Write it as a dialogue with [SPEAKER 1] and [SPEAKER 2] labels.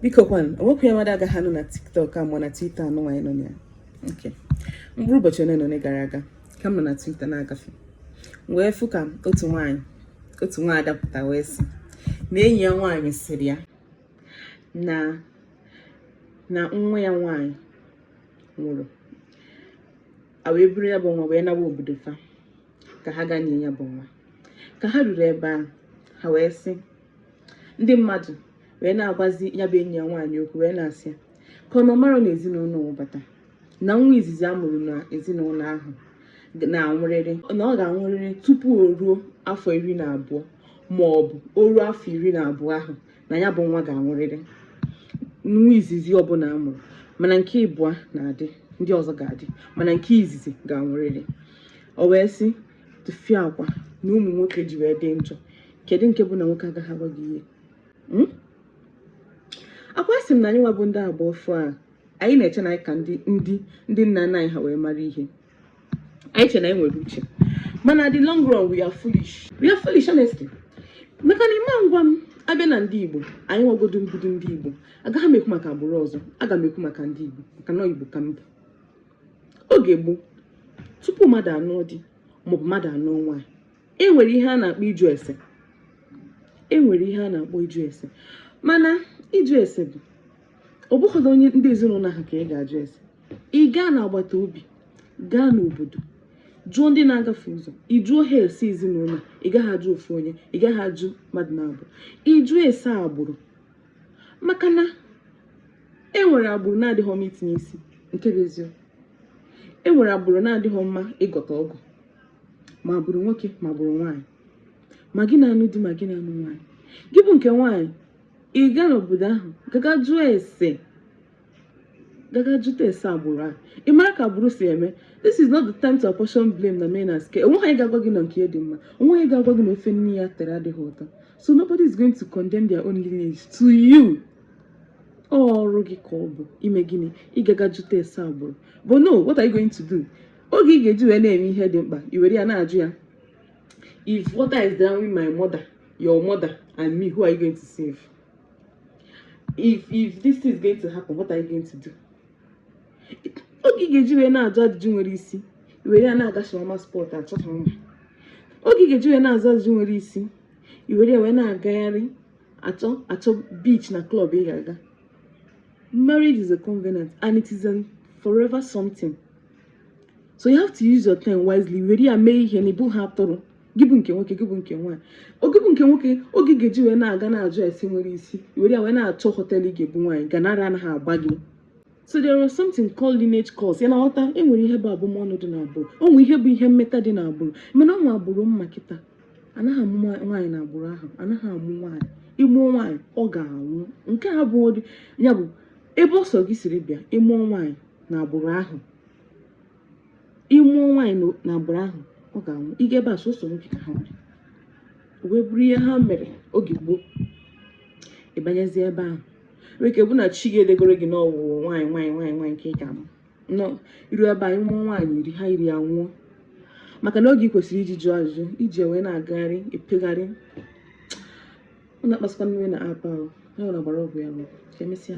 [SPEAKER 1] biko kwanụ o nwekwu ihe mmadụ agaghị anụ na tiktok a mụọ na twitter anụ nwaanyị nọ ya nke mkpụrụ ụbọchị ole na ole gara aga ka m nọ na twitter na-agafe wee fụ ka otu nwaanyị otu nwaanyị adapụta wee sị na enyi ya nwaanyị sịrị ya na na nwa ya nwaanyị nwụrụ a wee buru ya bụ nwa wee nawa obodo fa ka ha gaa nie ya bụ nwa ka ha ruru ebe ahụ ha wee sị ndị mmadụ wee na-agwazi ya bụ enyi ya nwaanyị okwu wee na-asị ya ka ọ mara na ezinụlọ wụbata na nwa izizi a mụrụ na ezinụlọ ahụ na-anwụrịrị na ọ ga-anwụrịrị tupu o ruo afọ iri na abụọ ma ọ bụ o ruo afọ iri na abụọ ahụ na ya bụ nwa ga-anwụrịrị nwa izizi ọbụla a mụrụ mana nke ịbụa na-adị ndị ọzọ ga-adị mana nke izizi ga-anwụrịrị o wee sị tụfịa akwa na ụmụ nwoke ji wee dị njọ kedu nke bụ na nwoke agaghị agwa gị ihe hmm? akwa sị m na anyị nwa bụ ndị agba ọfụụ a anyị na-eche na anyị ka ndị ndị ndị nna nna anyị ha wee mara ihe anyị che na anyị nwere uche mana the long run we are foolish we are foolish honestly maka na ịma ngwa m bịa na ndị igbo anyị nwa godu bụdu ndị igbo agaghị m ekwu maka agbụrụ ọzọ aga m ekwu maka ndị igbo maka na igbo ka m bụ oge gboo tupu mmadụ anụọ di maọbụ mmadụ anụọ nwaanyị e nwere ihe a na-akpọ ịjụ ese e nwere ihe a na-akpọ ịjụ ese mana ịjụ ese bụ ọ bụghịdị onye ndị ezinụlọ ahụ ka ị ga-ajụ ese ị gaa n'agbata obi gaa n'obodo jụọ ndị na-agafe ụzọ ị jụọ ha ese ezinụlọ ị gaghị ajụ ofu onye ị gaghị ajụ mmadụ naabọ ịjụ ese agbụrụ maka na e nwere agbụrụ na-adịghị mma itinye isi nke bụ eziokwu e nwere agbụrụ na-adịghị mma ịgọta ọgọ ma agbụrụ nwoke ma agbụrụ nwaanyị ma gị na-anụ di ma gị na-anụ nwaanyị gị bụ nke nwaanyị ị gaa n'obodo ahụ gaga jụọ ese gaga jụta ese agbụrụ ahụ ị mara ka agbụrụ si eme this is not the time to apportion blame na men are scum onweghị onye ga-agwa gị na nke dị mma onweghị onye ga-agwa gị na ofe nne ya tere adịghị ụtọ so nobody is going to condemn their own lineage to you ọrụ gị ka ọ bụ ime gịnị ịgaga jụta ese agbụrụ but no what are you going to do oge ị ga-eji wee na-eme ihe dị mkpa i were ya na-ajụ ya if water is drowning my mother your mother and me who are you going to save if if this is going to happen what are you going to do oge ị ga-eji wee na-ajụ ajụjụ nwere isi i were ya na-aga shawarma spot achọ shawarma oge ị ga-eji wee na-ajụ ajụjụ nwere isi i were ya wee na-agagharị achọ achọ beach na club ị ga-aga marriage is a covenant and it is a forever something so you have to use your time wisely were ya mee ihe na ị bụghị atụrụ gị bụ nke nwoke gị bụ nke nwaanyị gị bụ nke nwoke oge ị ga-eji wee na-aga na-ajụ ese nwere isi were ya wee na-achọ họteelụ ị ga-ebu nwaanyị gaa na ara anaghị agba gị so there was something called lineage curse ị na-aghọta e nwere ihe bụ abụmọnụ dị n'agbụrụ o nwere ihe bụ ihe mmeta dị n'agbụrụ mana o nwere agbụrụ m ma kịta anaghị amụ nwaanyị na agbụrụ ahụ anaghị amụ nwaanyị ị mụọ nwaanyị ọ ga-anwụ nke a bụ ya bụ ebe ọ sọ gị siri bịa ị mụọ nwaanyị na agbụrụ ahụ ị mụọ nwaanyị na- na agbụrụ ahụ ọ ga-anwụ ị gaa ebe a sọsọ nwoke ka ha nwere o wee bụrụ ihe ha mere oge gboo ị banyezie ebe ahụ o nwere ike bụ na chi gị edegoro gị na ọ wụ nwaanyị nwaanyị nwaanyị nwaanyị ka ị ga-amụ na i ruo ebe ahụ ị mụọ nwaanyị iri ha iri anwụọ maka na oge ị kwesịrị iji jụọ ajụjụ i ji ya wee na-agagharị epegharị ọ na-akpasịkwa m iwe na apa ahụ onye ọ na-agbara ọgwụ ya n'ụkwụ ka emesịa